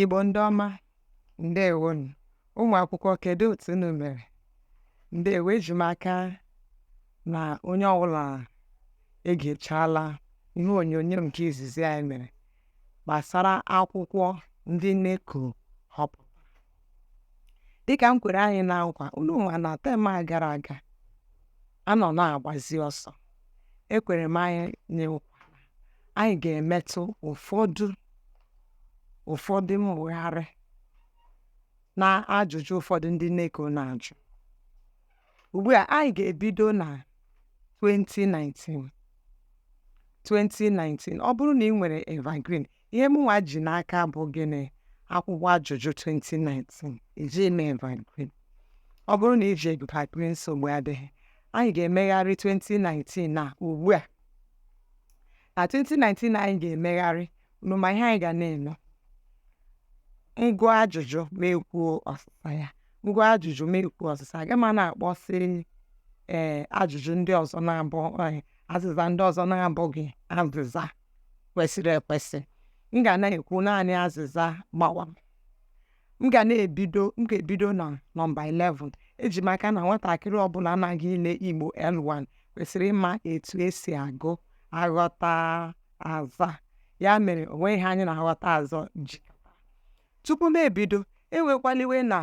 Igbo ndị ọma ndewonu ụmụ akwụkwọ kedu otu unu mere ndewo eji m aka na onye ọbụla egechala ihe onyonyo nke izizi anyị mere gbasara akwụkwọ ndị NECO họpụtara dịka m kwere anyị na nkwa unu ma na term a gara aga a nọ na-agbazi ọsọ ekwere m anyị na nkwa anyị ga-emetụ ụfọdụ ụfọdụ mmụgharị na ajụjụ ụfọdụ ndị NECO na-ajụ ugbu a anyị ga-ebido na 2019 2019 ọ bụrụ na ị nwere evergreen Ihe mụnwa ji n'aka bụ gịnị? Akwụkwọ ajụjụ 2019 iji eme evergreen. Ọ bụrụ na i ji evergreen nsogbu adịghị, anyị ga-emegharị 2019 na ugbu a. Na 2019 anyị ga-emegharị unu ma ihe anyị ga na-eme. M gụọ ajụjụ mụ ekwuo ọsịsa ya. M gụọ ajụjụ mụ ekwuo ọsịsa. Agaghị m na-akpọsị ee ajụjụ ndị ọzọ na-abụ ee, azịza ndị ọzọ na-abụghị azịza. kwesịrị ekwesị m ga na-ekwu naanị azịza gbawa m ga na-ebido m ga-ebido na nọmba 11 eji m aka na nwatakịrị ọbụla na-aga ile igbo l1 kwesịrị ịma etu e si agụ aghọtaazaa ya mere o nweghị ihe anyị na aghọtaazaa ji Tupu m ebido, ewekwala iwe na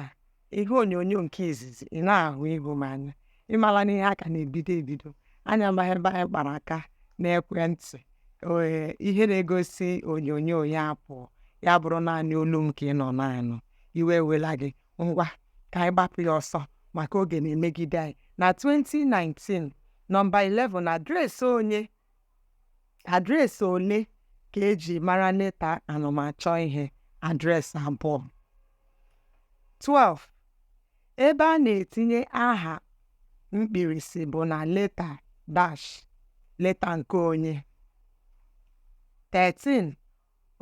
ihe onyonyo nke izizi ị naghị ahụ ihu m anya. Ị mala na ihe a ka na-ebido ebido. Anyị amaghị ebe anyị kpara aka n'ekwentị. Ee, ihe na-egosi onyonyo ya apụọ. Ya bụrụ naanị olu m ka ị nọ na-anụ. Iwe ewela gị. Ngwa, ka anyị gbapụ ya ọsọ maka oge na-emegide anyị. Na 2019, nọmba 11, adreesị onye Adreesị ole ka e ji mara leta anamachọihe? Adreesị abụọ. 12. Ebe a na-etinye aha mkpirisi bụ na leta dash leta nke onye. 13.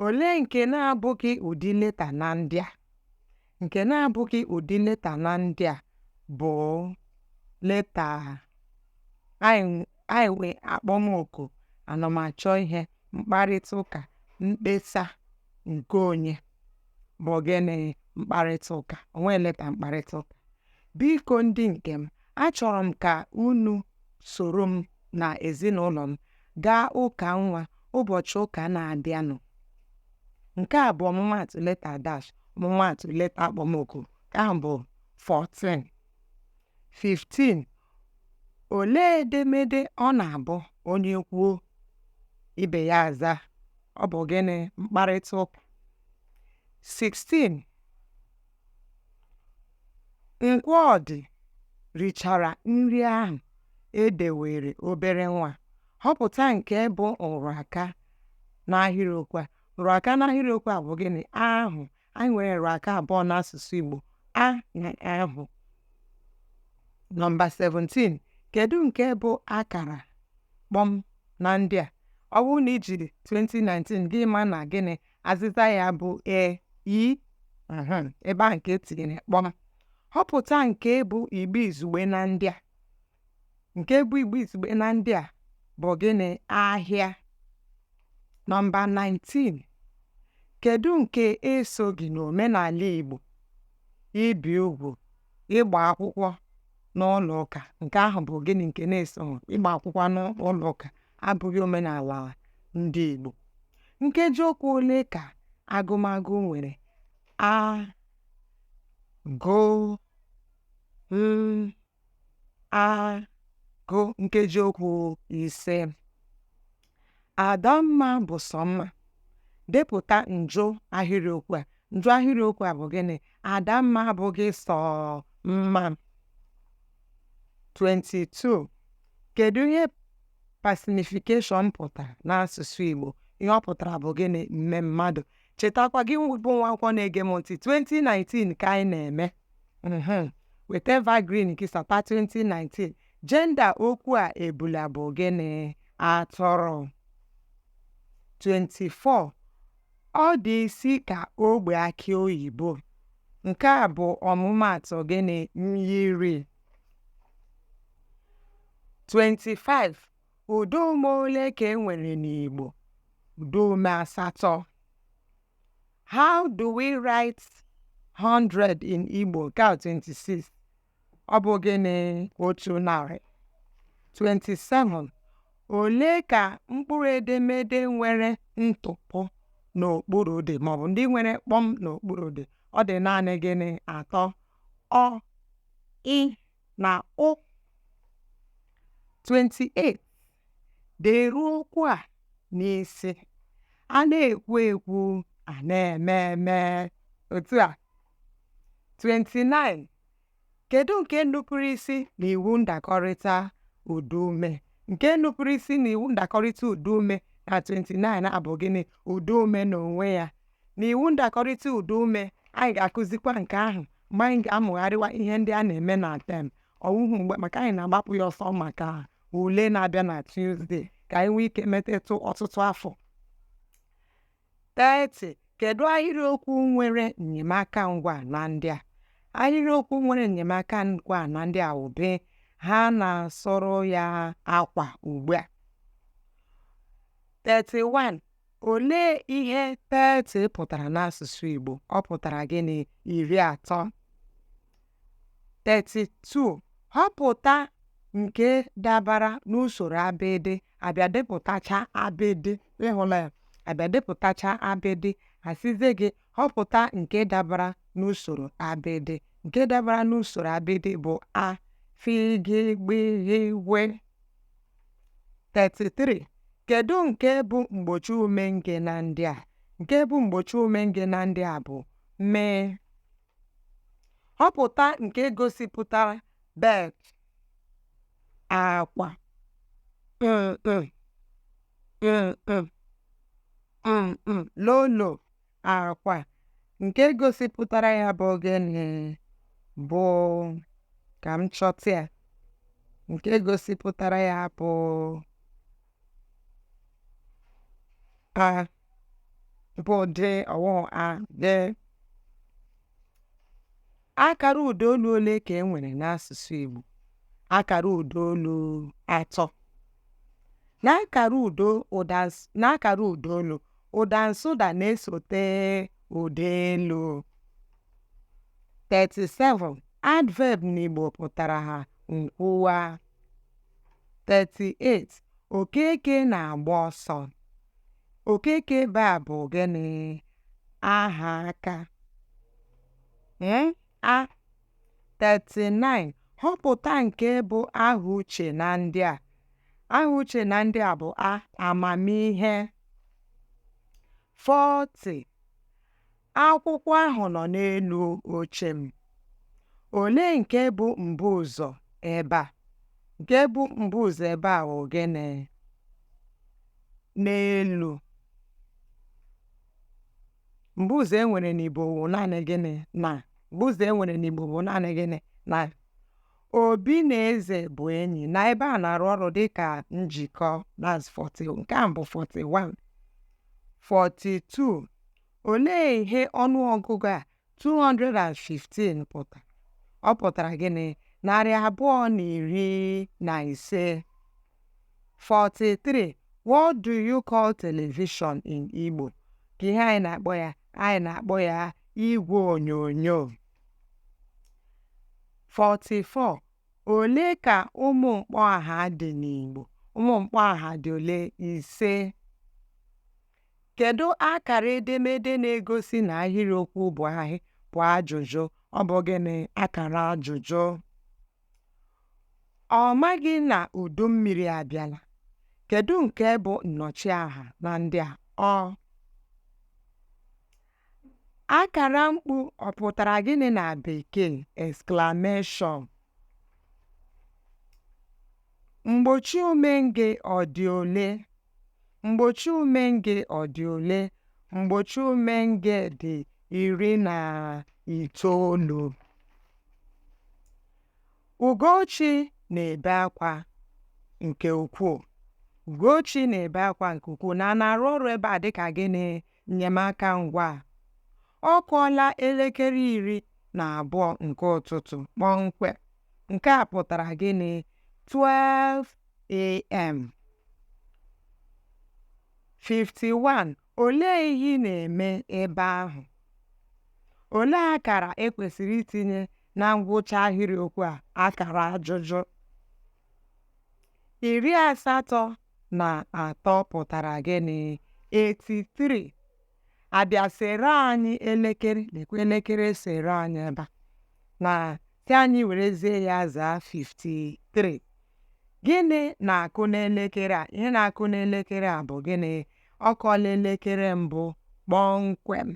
Olee nke na-abụghị ụdị leta na ndị a? Nke na-abụghị ụdị leta na ndị a bụ leta anyị nwe akpọmoku, anamachọihe, mkparịta ụka, mkpesa nke onye bụ gịnị mkparịta ụka o nweghị leta mkparịta ụka biko ndị nke m achọrọ m ka unu soro m na ezinụlọ m gaa ụka nwa ụbọchị ụka na-abịanụ. Nke a bụ ọmụmaatụ leta dash ọmụmaatụ leta akpọmoku nke ahụ bụ 14 15 olee edemede ọ na-abụ onye kwuo ibe ya aza ọ bụ gịnị mkparịta ụka 16 Nkwọdị richara nri ahụ e deweere obere nwa, họpụta nke bụ nrụaka n'ahịrịokwu a. Nrụaka n'ahịrịokwu a bụ gịnị? Ahụ. Anyị nwere nrụaka abụọ n'asụsụ Igbo, a na ahụ. Nọmba 17, kedu nke bụ akara kpọm na ndị a? Ọ bụrụ na i jiri 2019 gị ma na gịnị azịza ya bụ E ebe a nke e tinyere kpọm họpụta nke bụ Igbo izugbe na ndị a nke bụ Igbo izugbe na ndị a bụ gịnị ahịa nọmba 19 kedu nke esoghị n'omenala Igbo ibi ugwu ịgba akwụkwọ n'ụlọ ụka nke ahụ bụ gịnị nke na-esoghị ịgba akwụkwọ n'ụlọ ụka abụghị omenala ndị Igbo. Nkeji okwu ole ka agụmagụ nwere? A gụ m a gụ nkeji okwu ise. Adamma bụ sọ mma. Depụta njụ ahịrịokwu a. Njụ ahịrịokwu a bụ gịnị? Adamma abụghị sọ mma. 22. Kedu ihe personification pụtara n'asụsụ Igbo? Ihe ọ pụtara bụ gịnị? Mmemmadụ. Chetakwa gị bụ nwa akwụkwọ na-ege m ntị, 2019 ka anyị na-eme. Mhm. Weta Evergreen gị sapa 2019. Jenda okwu a ebula bụ gịnị? Atụrụ. 24. Ọ dị isi ka ogbe akị oyibo. Nke a bụ ọmụmaatụ gịnị? Myiri. 25 ụdaume ole ka e nwere n'Igbo? Ụdaume asatọ. How do we write 100 in Igbo? Nke a 26. Ọ bụ gịnị otu narị? 27. Ole ka mkpụrụ edemede nwere ntụpọ n'okpuru dị maọbụ ndị nwere kpọm n'okpuru dị? Ọ dị naanị gịnị atọ? ọ, ị, na ụ. 28. Deruo okwu a n'isi. A na-ekwu ekwu, a na-eme eme. Otu a. 29. Kedu nke nupụrụ isi n'iwu ndakọrịta ụdaume? Nke nupụrụ isi n'iwu ndakọrịta ụdaume na 29 a bụ gịnị? Ụdaume n'onwe ya. na iwu ndakọrịta ụdaume anyị ga-akụzikwa nke ahụ mgbe anyị ga-amụgharịwa ihe ndị a na-eme na term ọ wụhụ mgbe maka anyị na-agbapụ ya ọsọ maka ule na-abịa na Tuesday ka anyị nwee ike metetụ ọtụtụ afọ 30 kedu ahịrịokwu nwere enyemaka ngwaa na ndị a ahịrịokwu nwere enyemaka ngwaa na ndị a wụ B ha na-asụrụ ya akwa ugbu a 31 Olee ihe 30 pụtara n'asụsụ Igbo? Ọ pụtara gịnị? Iri atọ. 32. Họpụta nke dabara n'usoro abịdị a bịa depụtacha abịdị ị hụla ya a bịa depụtacha abịdị a sịzie gị họpụta nke dabara n'usoro abịdị nke dabara n'usoro abịdị bụ A f g gb gh gw 33 kedu nke bụ mgbochiume nge na ndị a nke bụ mgbochiume nge na ndị a bụ m họpụta nke gosipụtara bed akwa mm, mm, mm, low low akwa nke gosipụtara ya bụ gịnị bụ ka m chọta ya nke gosipụtara ya bụ A bụ D ọ wụhụ A D Akara ụdaolu ole ka e nwere n'asụsụ Igbo? Akara ụdaolu atọ. N'akara udo ụda n'akara ụdaolu, ụda nsụda na-esote ụda elu. 37. Adverb n'Igbo pụtara A, nkwuwa. 38. Okeke na-agba ọsọ. Okeke ebe a bụ gịnị? Aha aka. A. 39, Họpụta nke bụ aha uche na ndị a. Aha uche na ndị a bụ A, amamihe. 40, Akwụkwọ ahụ nọ n'elu oche m. Olee nke bụ mbụ ụzọ ebe a? Nke bụ mbuụzọ ebe a bụ gịnị? N'elu. Mbuụzọ e nwere n'Igbo bụ naanị gịnị na mbuụzọ e nwere n'Igbo bụ naanị gịnị na Obi na Eze bụ enyi na ebe a na-arụ ọrụ dịka njikọ that's 40 nke a bụ 41 42 olee ihe ọnụọgụgụ a 215 pụtara ọ pụtara gịnị narị abụọ na iri na ise 43 what do you call television in Igbo ka ihe anyị na-akpọ ya anyị na-akpọ ya igwe onyonyo 44 ole ka ụmụ mkpọaha dị n'Igbo ụmụ mkpọaha dị ole ise Kedụ akara edemede na-egosi na ahịrịokwu bụ ahị bụ ajụjụ? Ọ bụ gịnị akara ajụjụ? Ọ maghị na udu mmiri abịala. Kedụ nke bụ nnọchiaha na ndị a? Ọ. Akara mkpu ọ pụtara gịnị na Bekee? Exclamation. Mgbochiume nge ọ dị ole? Mgbochiume nge ọ dị ole? Mgbochiume nge dị iri na itoolu. Ugochi na-ebe akwa nke ukwuu. Ugochi na-ebe akwa nke ukwuu na na-arụ ọrụ ebe a dịka gịnị? Nnyemaka ngwaa. Ọ kụọla elekere iri na abụọ nke ụtụtụ kpọmkwem. Nke a pụtara gịnị? 12am. 51. Olee ihe ị na-eme ebe ahụ? Olee akara e kwesịrị itinye na ngwụcha ahịrịokwu a? Akara ajụjụ. Iri asatọ na atọ pụtara gịnị? 83. A bịa seere anyị elekere, lekwa elekere e seere anyị ebe a na-asị anyị werezie ya zaa 53. Gịnị na-akụ n'elekere a? Ihe na-akụ n'elekere a bụ gịnị? Ọ kụọla elekere mbụ kpọmkwem.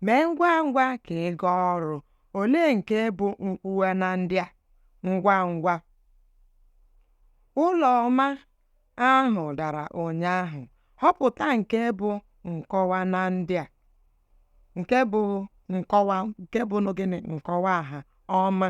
Mee ngwa ngwa ka ị gaa ọrụ. Olee nke bụ nkwuwa na ndị a? Ngwa ngwa. Ụlọ ọma ahụ dara ụnyaahụ. Họpụta nke bụ nkọwa na ndị a. Nke bụ gịnị? Nkọwaaha ọma.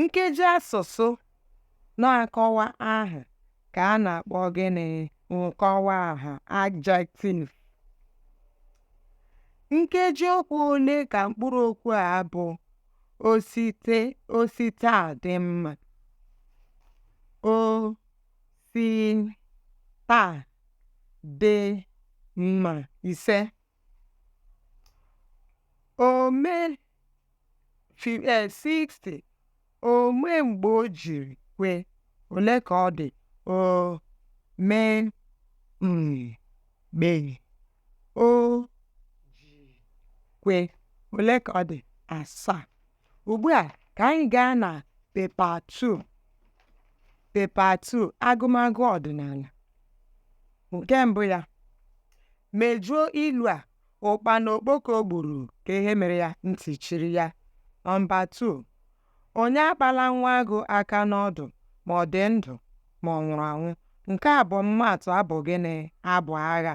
Nkeji asụsụ na-akọwa aha ka a na-akpọ gịnị? Nkọwa aha adjective. Nkeji okwu ole ka mkpụrụ okwu a bụ o si taa dị mma? O si taa dị mma ise. Ome um 60 Ome mgbe o jiri kwe, ole ka ọ dị? Ome um mgbe o ji kwe, ole ka ọ dị? Asaa. Ugbu a ka anyị gaa na pepa 2. Pepa 2 agụmagụ ọdịnala. Nke mbụ ya Mejuo ilu a, Ụkpana okpoko gburu ka ihe mere ya, ntị chiri ya. Nọmba 2, Onye akpala nwa agụ aka n'ọdụ ma ọ dị ndụ ma ọ nwụrụ anwụ. Nke a bụ ọmụmaatụ abụ gịnị? Abụ agha.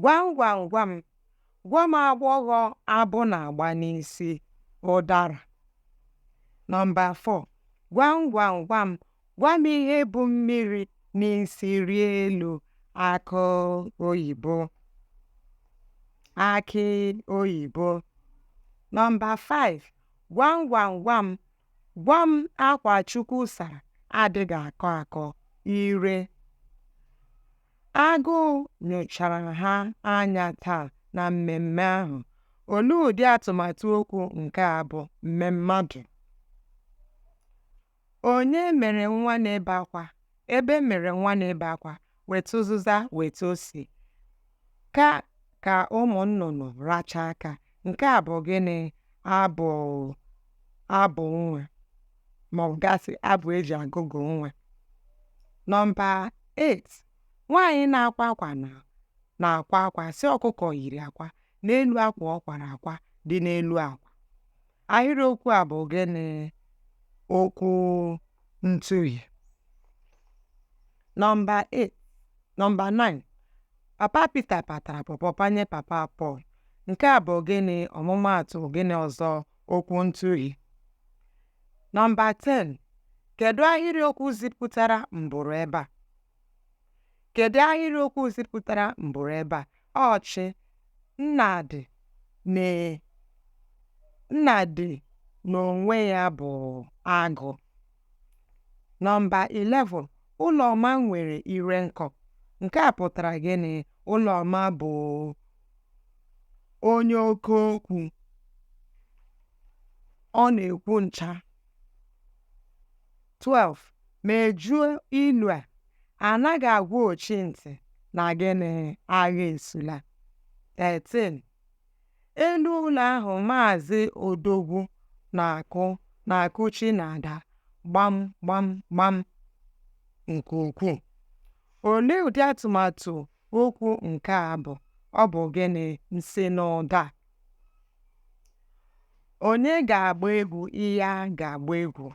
Gwam gwam gwam, Gwa m agbọghọ abụ na-agba n'isi ụdara. Nọmba 4, Gwam gwam gwam, gwa m ihe bu mmiri n'isi rịa elu akụ oyibo akị oyibo nọmba 5 gwam gwam gwam gwa m akwa Chukwu sara adịghị akọ akọ ire agụụ nyochara ha anya taa na mmemme ahụ olee ụdị atụmatụ okwu nke a bụ mmemmadụ Onye mere nwa na-ebe akwa? Egbe mere nwa na-ebe akwa, weta ụzịza, weta ose. Ka ka ụmụ nnụnụ racha aka. Nke a bụ gịnị? Abụ nwa maọbụ ga-asị abụ e ji agụgụ nwa. Nọmba 8, nwaanyị na-akwa akwa na-akwa akwa sị ọkụkọ yiri akwa n'elu akwa ọ kwara akwa dị n'elu akwa. Ahịrịokwu a bụ gịnị? Okwu ntụhi. Nọmba 8 nọmba 9 Papa Pita patara pọpọ panye Papa Pọl. Nke a bụ gịnị? Ọmụmaatụ gịnị ọzọ? Okwu ntụhi. Nọmba 10 Kedụ ahịrịokwu zipụtara mbụrụ ebe a? Kedụ ahịrịokwu zipụtara mbụrụ ebe a? Ọchị Nnadị na Nnadị n'onwe ya bụ agụ. Nọmba 11, Ụlọma nwere ire nkọ. Nke a pụtara gịnị? Ụlọma bụ onye oke okwu. Ọ na-ekwu ncha. 12 mejuo ilu a anaghị agwa ochi ntị na gịnị agha esula 13 elu ụlọ ahụ maazị odogwu na-akụ na-akụchi na-ada gbam gbam gbam nke ukwuu olee ụdị atụmatụ Okwu nke a bụ ọ bụ gịnị nsinụda onye ga-agba egwu iya ga-agba egwu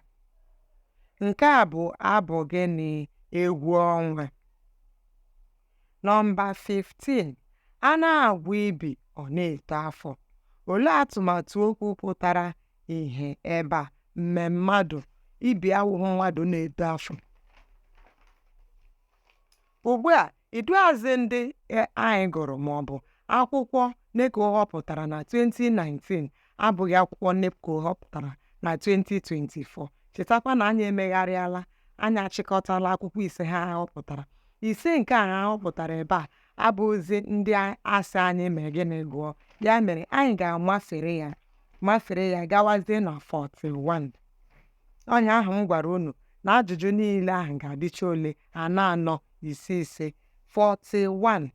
nke a bụ abụ gịnị egwu ọnwa nọmba 15 a na-agwọ ibi ọ na-eto afọ olee atụmatụ okwu pụtara ihe ebe a mmemmadụ ibi awụhụ mmadụ na-eto afọ Ugbu a, iduuazị ndị e, anyị gụrụ ma ọ bụ akwụkwọ NECO họpụtara na 2019 abụghị akwụkwọ NECO họpụtara na 2024. Chetakwa na anyị emegharịala, anyị achịkọtala akwụkwọ ise ha họpụtara. Ise nke a ha họpụtara ebe a abụghịzi ndị a sị anyị mee gịnị gụọ. Ya mere, anyị ga-amafere ya mafere ya gawazie na 41. onye ahụ m gwara unu na ajụjụ niile ahụ ga-adịcha ole anọ anọ ise ise 41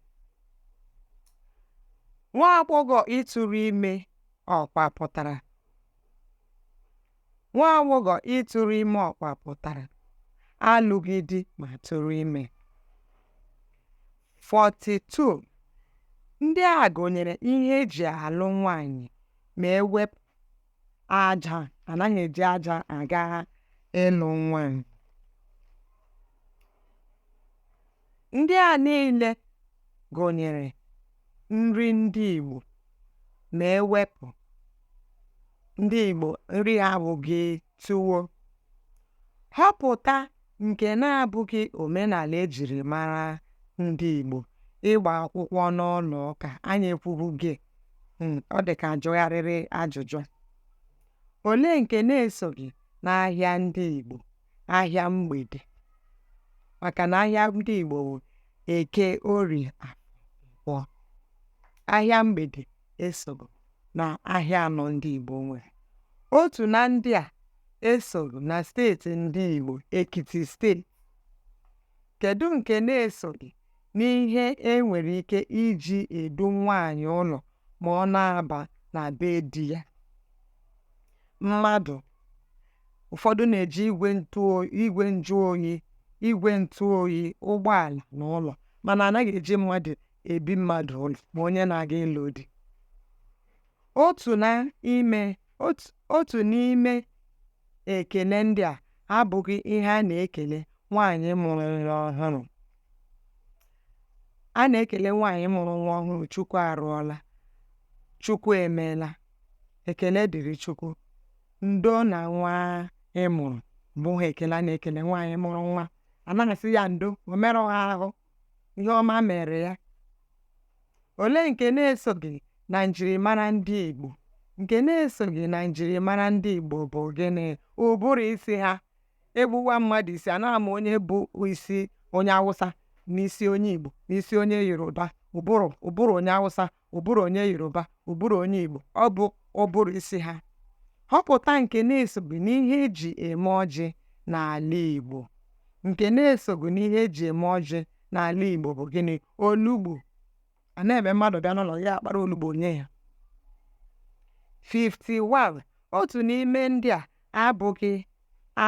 nwa agbọghọ ịtụrụ ime ọkwa pụtara nwa agbọghọ ịtụrụ ime ọkwa pụtara alụghị di ma tụrụ ime 42 ndị a gụnyere ihe eji alụ nwanyị ma ewepụ aja anaghị eji aja aga ịlụ nwanyị ndị a niile gụnyere nri ndị Igbo ma ewepụ ndị Igbo nri ha abụghị tuwo họpụta nke na-abụghị omenala e jiri mara ndị Igbo ịgba akwụkwọ n'ụlọ ụka anyị ekwubugo hmm, ọ dị ka a jụgharịrị ajụjụ olee nke na-esoghị n'ahịa ndị Igbo ahịa mgbede maka na ahịa ndị Igbo bụ eke orie afọ ahịa mgbede esoghị na ahịa anọ ndị Igbo nwere otu na ndị a esoghị na steeti ndị Igbo Ekiti steeti kedu nke na-esoghị n'ihe e nwere ike iji edu nwaanyị ụlọ ma ọ na-aba na be di ya mmadụ ụfọdụ na-eji igwe ntụ igwe njụ oyi igwe ntụ oyi ụgbọala na ụlọ mana anaghị eji mmadụ ebi mmadụ ụlọ ma onye na-aga ịlụ di Otu n'ime otu n'ime ekele ndị a abụghị ihe a na-ekele nwaanyị mụrụ nwa ọhụrụ. A na-ekele nwaanyị mụrụ nwa ọhụrụ Chukwu arụọla, Chukwu emeela, ekele dịrị Chukwu, ndo na nwa ị mụrụ abụghị ekele a na-ekele nwaanyị mụrụ nwa. A naghị asị ya ndo, o merụghị ahụ. ihe ọma mere ya olee nke na-esoghị na njirimara ndị Igbo nke na-esoghị na njirimara ndị Igbo bụ gịnị ụbụrụ isi ha egbuwa mmadụ isi anaghị ama onye bụ isi onye Awụsa n'isi onye Igbo n'isi onye Yoruba ụbụrụ ụbụrụ onye Awụsa ụbụrụ onye yoruba ụbụrụ onye igbo ọ bụ ụbụrụ isi ha họpụta nke na-esoghị n'ihe eji eme ọjị n'ala igbo nke na-esoghị n'ihe eji eme ọjị n'ala igbo bụ gịnị olugbu anaghị eme mmadụ bịa n'ụlọ ya akpara olugbu nye ya 51 otu n'ime ndị a abụghị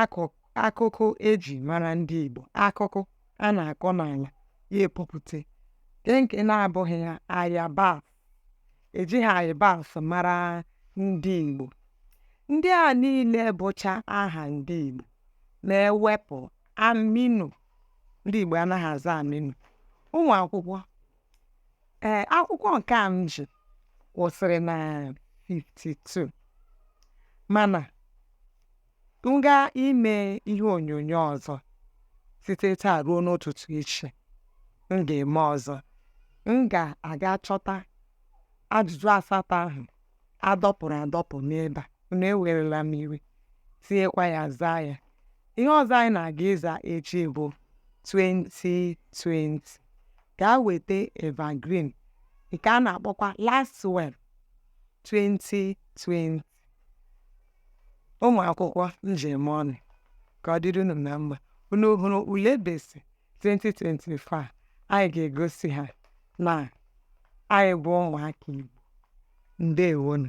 akụkụ akụkụ e ji mara ndị Igbo akụkụ a na-akọ n'ala ya epupụta nke nke na-abụghị ya ayabas ejighị ayabas mara ndị Igbo ndị a niile bụcha aha ndị Igbo ma ewepụ Aminu ndị Igbo anaghị aza Aminu ụmụ akwụkwọ ee akwụkwọ nke a m ji kwụsịrị na 52 mana m ga ime ihe onyonyo ọzọ site taa ruo n'ụtụtụ echi m ga-eme ọzọ m ga-aga chọta ajụjụ asatọ ahụ adọpụrụ adọpụ n'ebe a unu ewerela m iwe tinyekwa ya zaa ya ihe ọzọ anyị na-aga ịza echi bụ 2020 gaa weta evergreen nke a na-akpọkwa Lasswell 2020 ụmụ akwụkwọ ndewonu ka ọ dịrị unu na mma unu hụrụ ule BECE 2025 anyị ga-egosi ha na anyị bụ ụmụaka Igbo ndewonu